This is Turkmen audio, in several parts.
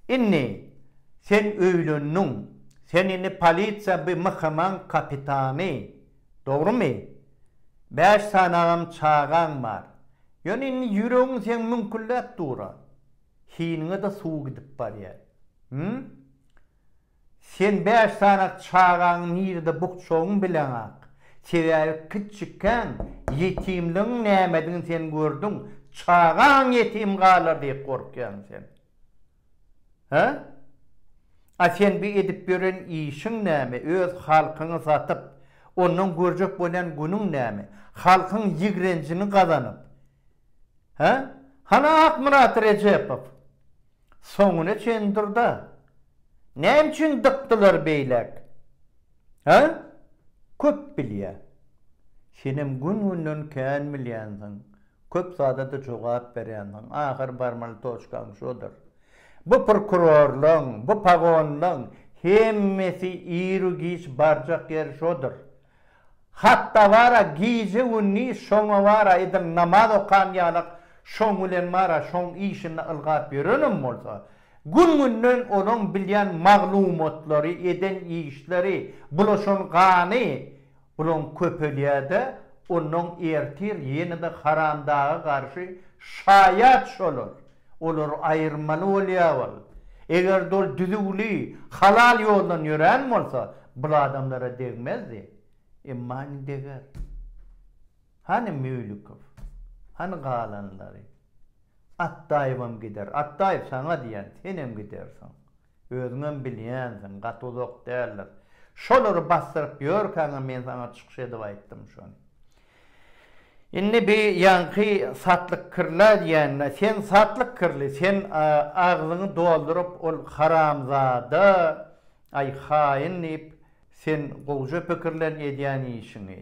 Indi sen öýlendiň. Sen indi polisiýa by MHM-nyň kapitany. Dogrumy? Bäş sanagam çagaň bar. Ýöne indi ýüregiň seň müňkülläp dur-a. Hiniňe-de suw gidip barýar. Him? Sen bäş sany çagaňy nirede bukjagyň bileňak. Sebäbi kiçikkäň ýetimligiň nämedigini sen gördüň. Çagaň ýetim galar diýip gorkýaň sen. Hä? A sen bu edip ýören işiň näme? Öz halkyňy satyp, ondan görjek bolýan günüň näme? Halkyň ýigrenjini gazanyp. Hä? Hany Akmyrat Rejepow? Soňuna çen dur-da. Näme üçin dykdylar beýläk? Hä? Köp bilýä. Senem gün-günden kän bilýänsiň. Köp zada-da jogap berýänsiň. Ahyr barmaly toçkaň şodur. Bu prokurorlaň, bu pagonlaň hemmesi iru-giç barjak ýeri şodur. Hatda bar-a gije-gündiz şoňa bar-a edil namaz okan ýalak şoň bilen bar-a şoň işinde ylgap ýörenem bolsa, gün-günden olaň bilýän maglumatlary, eden işleri, bulaşan gany olaň köpelýär-de, onnoň ertir ýene-de haramdaga garşy şaýat şolar. Olar aýyrmaly bolýar wol. Eger-de ol düzüwli, halal ýoldan ýörän bolsa, bul adamlara degmezdi. Emma indi deger. Hany Müýlükow? Hany galanlary? Atdaýewem gider. Atdaýew saňa diýen, senem gidersiň. Özüňem bilýänsiň, gaty uzak däldir. Şolary basdyryp ýörkäňem men saňa çykyş edip aýtdym şony. Indi bi ýaňky satlyk kirla diýende, sen satlyk kirli, sen agzyňy dolduryp ol haramzada, aý haýyn diýip, sen gowja pikirlen edýän işiňi.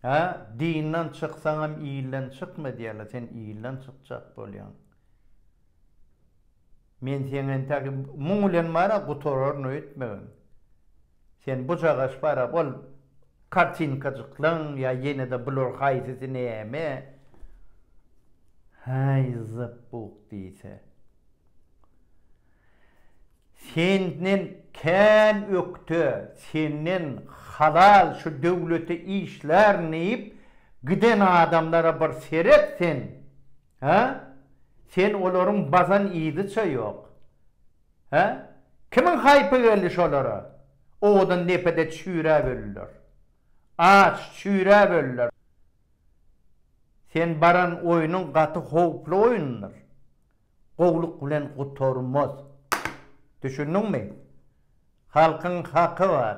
Hä, dinden çyksaňam ilden çykma diýerler, sen ilden çykjak bolýaň. Men seň entäk muň bilen bar-a gutararyn öýtmegem. Sen bujagaş bar-a ol kartinkajyklaň ýa ýene-de bular haýsysy näme? Häý, zybuk diýse. Senden kän ökde, senden halal şu döwlete işlärin diýip giden adamlara bir seret sen! Hä? Sen olaryň bazan yzy-ça ýok. Hä? Kimiň haýpy geldi şolara? Owadan depede çüýräp öldiler. Aç, çüýräp öldiler. Sen baran oýnuň gaty howply oýundyr. Gowluk bilen gutarmaz. Düşündiňmi? Halkyň haky bar.